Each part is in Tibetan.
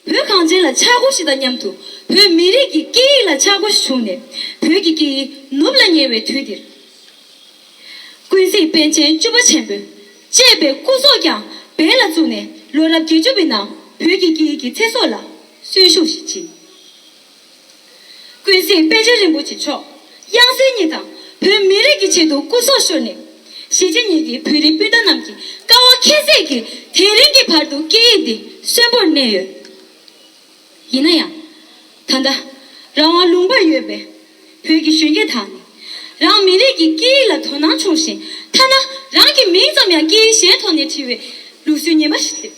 བོད་གངས་ཅན་ལ་ཆག་སྒོ་ཞིག་དང་མཉམ་དུ་བོད་མི་རིགས་ཀྱི་སྐད་ཡིག་ལ་ཆག་སྒོ་ཞིག་བྱུང་ནས་བོད་ཀྱི་སྐད་ཡིག་ནུབ་ལ་ཉེ་བའི་དུས་འདིར། ཀུན་གཟིགས་དཔལ་ཆེན་བཅུ་པ་ཆེན་པོ་ཅེས་པའི་སྐུ་སྲོག་ཀྱང་འབེན་ལ་བཙུགས་ནས་ལོ་རབས་བརྒྱད་ཅུ་པའི་ནང་བོད་ཀྱི་སྐད་ཡིག་གི་ཚེ་སྲོག་ལ་གསོན་ཤུགས་ཤིག་སྦྱིན། ཀུན་གཟིགས་དཔལ་ཆེན་རིན་པོ་ཆེ་མཆོག་དབྱངས་གསལ་ཉིད་དང་བོད་མི་རིགས་ཀྱི་ཆེད་དུ་སྐུ་སྲོག་ཤོར་ནས། གཞིས་བྱེས་གཉིས་ཀྱི་བོད་རིགས་སྤུན་ཟླ་རྣམས་ཀྱི་དཀའ་བ་ཁྱད་བསད་ཀྱིས་དེ་རིང་གི་བར་དུ་སྐད་ཡིག་འདི་གསོན་པོར་གནས་ཡོད། ཡིན་ན་ཡང། ད་ལྟ། རང་དབང་ལུང་པར་ཡོད་པའི་བོད་ཀྱི་གཞོན་སྐྱེས་དག་ནི། རང་མི་རིགས་ཀྱི་སྐད་ཡིག་ལ་དོ་སྣང་ཆུང་ཞིང་ཐ་ན་རང་གི་མིང་ཙམ་ཡང་སྐད་ཡིག་གཞན་ཐོག་ནས་བྲིས་བའི་ལུགས་སྲོལ་ངན་པ་ཞིག་སྲིད།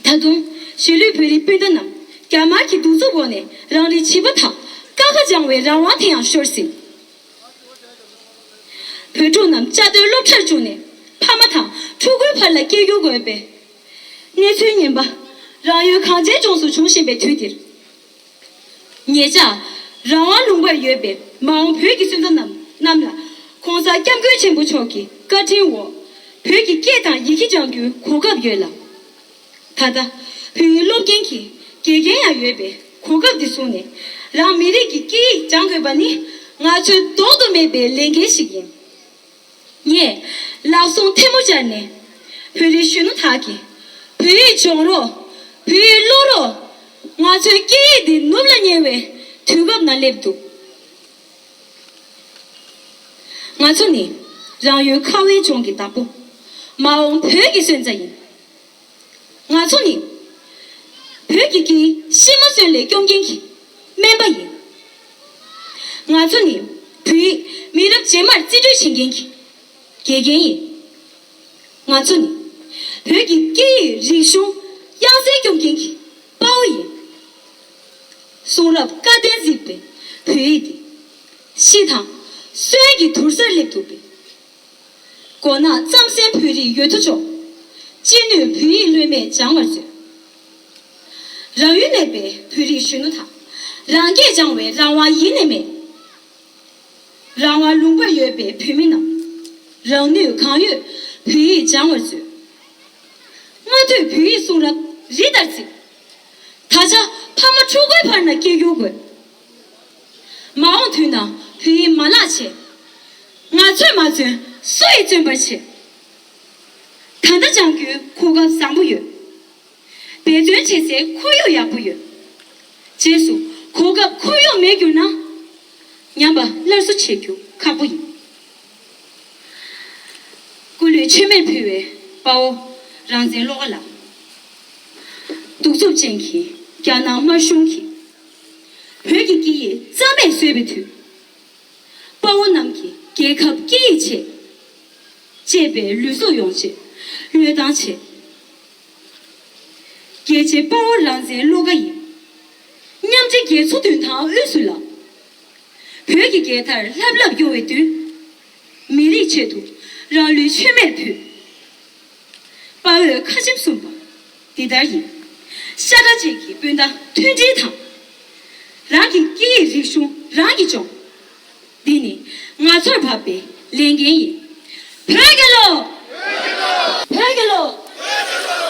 ད་དུང། གཞིས་ལུས་བོད་རིགས་སྤུན་ཟླ་རྣམས། རྒྱ་དམར་གྱི་གདུག་རྩུབ་འོག་ནས་རང་རེའི་བྱིས་པ་དག། ཀ་ཁ་སྦྱང་བའི་རང་དབང་དེ་ཡང་ཤོར་ཟིན། བོད་ཕྲུག་རྣམས་བཅའ་སྡོད་སློབ་གྲྭར་བཅུག་ནས། ཕ་མ་དང་ཕྲུ་གུའི་བར་ལ་སྐད་སྒྱུར་དགོས་པའི། གནས་ཚུལ་ངན་པ། རང་ཡུལ་གངས་ཅན་ལྗོངས་སུ་འབྱུང་བཞིན་པའི་དུས་འདིར། ངེད་ཅག་རང་དབང་ལུང་པར་ཡོད་པའི་མ་འོངས་བོད་ཀྱི་སོན་རྩ་རྣམས་ལ། ྋགོང་ས ྋསྐྱབས་མགོན་ཆེན་པོ་མཆོག་གི་བཀའ་དྲིན་འོག་བོད་ཀྱི་སྐད་དང་ཡི་གེ་སྦྱང་རྒྱུའི་གོ་སྐབས་ཡོད་ལ། ད་ལྟ་བོད་ཡིག་སློབ་མཁན་གྱི་དགེ་རྒན་ཡང་ཡོད་པས་གོ་སྐབས་འདི་བཟུང་ནས་རང་མི་རིགས་ཀྱི་སྐད་ཡིག་སྦྱང་དགོས་པ་ནི་ང་ཚོའི་ལྡོག་ཏུ་མེད་པའི་ལས་འགན་ཞིག་ཡིན། ངས་ལག་ཟུང་ཐལ་མོ་སྦྱར་ནས། བོད་རིགས་གཞོན་ནུ་དག་གིས། བོད་ཡིག་སྦྱོང་རོགས། བོད་ཡིག་ཀློག་རོགས། ང་ཚོའི་སྐད་ཡིག་འདི་ནུབ་ལ་ཉེ་བའི་དུས་བབ་ན་སླེབས་འདུག། ང་ཚོ་ནི་རང་ཡུལ་ཁ་བའི་ལྗོངས་ཀྱི་བདག་པོ། མ་འོངས་བོད་ཀྱི་སོན་རྩ་ཡིན། ང་ཚོ་ནི། བོད་ཀྱི་དཀྱིལ་གཤིས་མ་སོན་ལས་སྐྱོང་མཁན་གྱི་སྨན་པ་ཡིན། ང་ཚོ་ནི་བོད་ཡིག་མི་རབས་རྗེས་མར་རྩིས་སྤྲོད་བྱེད་མཁན་གྱི་དགེ་རྒན་ཡིན། ང་ཚོ་ནི་བོད་ཀྱི་སྐད་ཡིག་རིག་གཞུང་དབྱངས་གསལ་སྐྱོང་མཁན་གྱི་དཔའ་བོ་ཡིན། གསུང་རབ་བཀའ་བསྟན་གཟིགས་པའི་བོད་ཡིག་འདི། ཤི་དང་གསོན་གྱི་དུར་སར་སླེབས་འདུག་པས། མགོ་ནག་རྩམ་ཟན་བོད་རིགས་ཡོད་དོ་ཅོག། ཅི་ནུས་བོད་ཡིག་ལྷོད་མེད་སྦྱང་བར་མཛོད། རང་ཡུལ་གནས་པའི་བོད་རིགས་གཞོན་ནུ་དག། རང་སྐད་སྦྱང་བའི་རང་དབང་ཡེ་ནས་མེད། རང་དབང་ལུང་པར་ཡོད་པའི་བོད་མི་རྣམས། རང་ནུས་གང་ཡོད་བོད་ཡིག་སྦྱང་བར་མཛོད། སྔ་དུས་བོད་ཡིག་གསུང་རབ་རི་ལྟར་བརྩིགས། ད་ཆ་ཕ་མ་ཕྲུ་གུའི་བར་ན་སྐད་སྒྱུར་དགོས། མ་འོངས་དུས་ན་བོད་ཡིག་མ་ལག་བྱེད། ང་ཚོས་མ་བརྩོན་སུ་ཡིས་བརྩོན་པར་བྱེད། ད་ལྟ་སྦྱང་རྒྱུའི་གོ་སྐབས་བཟང་པོ་ཡོད། འབད་བརྩོན་བྱེད་སའི་ཁོར་ཡུག་ཡག་པོ་ཡོད། རྗེས་སུ་གོ་སྐབས་ཁོར་ཡུག་མེད་གྱུར་ན། ཉམས་པ་སླར་གསོ་བྱེད་རྒྱུ་ཁག་པོ་ཡིན། སྐུ་ལུས་མཆོད་མེར་ཕུལ་བའི་དཔའ་བོ་རང་བཙན་བློ་དགའ་ལགས། གདུག་རྩུབ་ཅན་གྱི་རྒྱ་ནག་དམར་གཞུང་གིས། བོད་ཀྱི་སྐད་ཡིག་རྩ་མེད་བཟོས་པའི་དུས། དཔའ་བོ་རྣམས་ཀྱིས་རྒྱལ་ཁབ་སྐད་ཡིག་ཆེད། གཅེས་པའི་ལུས་སྲོག་ཡོངས་ཆེད་བློས་བཏང་བྱས། རྒྱལ་གཅེས་དཔའ་བོ་རང་བཙན་བློ་དགའ་ཡིན། མཉམ་འབྲེལ་རྒྱལ་ཚོགས་མདུན་ཐང་དབུས་སུ་ལངས། བོད་ཀྱི་རྒྱལ་དར་ལྷབ་ལྷབ་གཡོ་བའི་དུས། མི་རིགས་ཆེད་དུ་རང་ལུས་མཆོད་མེར་ཕུལ། དཔའ་བོས་ཁ་ཆེམས་གསུངས་པ། འདི་ལྟར་ཡིན། ཤ་ཁྲ་བཅས་ཀྱི་སྤུན་ཟླ་མཐུན་སྒྲིལ་དང། རང་གི་སྐད་ཡིག་རིག་གཞུང་རང་གིས་སྦྱོང། འདི་ནི་ང་ཚོར་བབས་པའི་ལས་འགན་ཡིན། བོད་རྒྱལོ། བོད་རྒྱལོ། བོད་རྒྱལོ། བོད་རྒྱལོ།